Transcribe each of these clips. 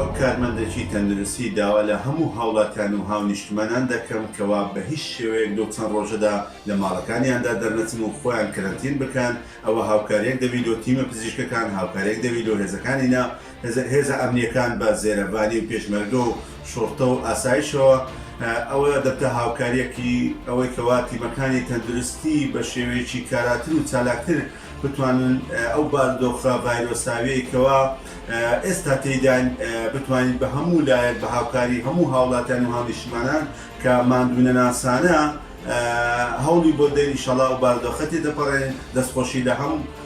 وەک کارمەندێکی تەندروستی داوا لە هەموو هاوڵاتیان و هاونیشتمانان دەکەم کەوا بە هیچ شێوەیەک لەو چەند ڕۆژەدا لە ماڵەکانیاندا دەرنەچن و خۆیان کەرەنتین بکەن، ئەوە هاوکاریەک دەبی لۆ تیمە پزیشکەکان، هاوکاریەک دەبی لۆ هێزەکانی نا، هێزە ئەمنییەکان بە زێرەڤانی و پێشمەرگە و شوڕتە و ئاسایشەوە، ئەوە دەبتە هاوکارییەکی ئەوەی کەوا تیمەکانی تەندروستی بە شێوەیەکی کاراتر و چالاکتر بتوانن ئەو باردۆخە ڤایرۆساویەی کەوا ئێستا تێیداین بتوانین بە هەموو لایەک بە هاوکاری هەموو هاوڵاتیان و هاونیشتمانان کە ماندوونەناسانە هەوڵی بۆ دەین ئیشەڵا ئەو باردۆخە تێدەپەڕێنین دەستخۆشی لە هەم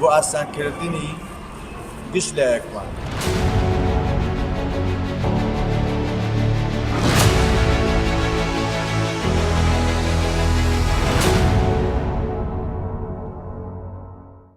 بۆ ئاسانکردنی گشت لایەکمان.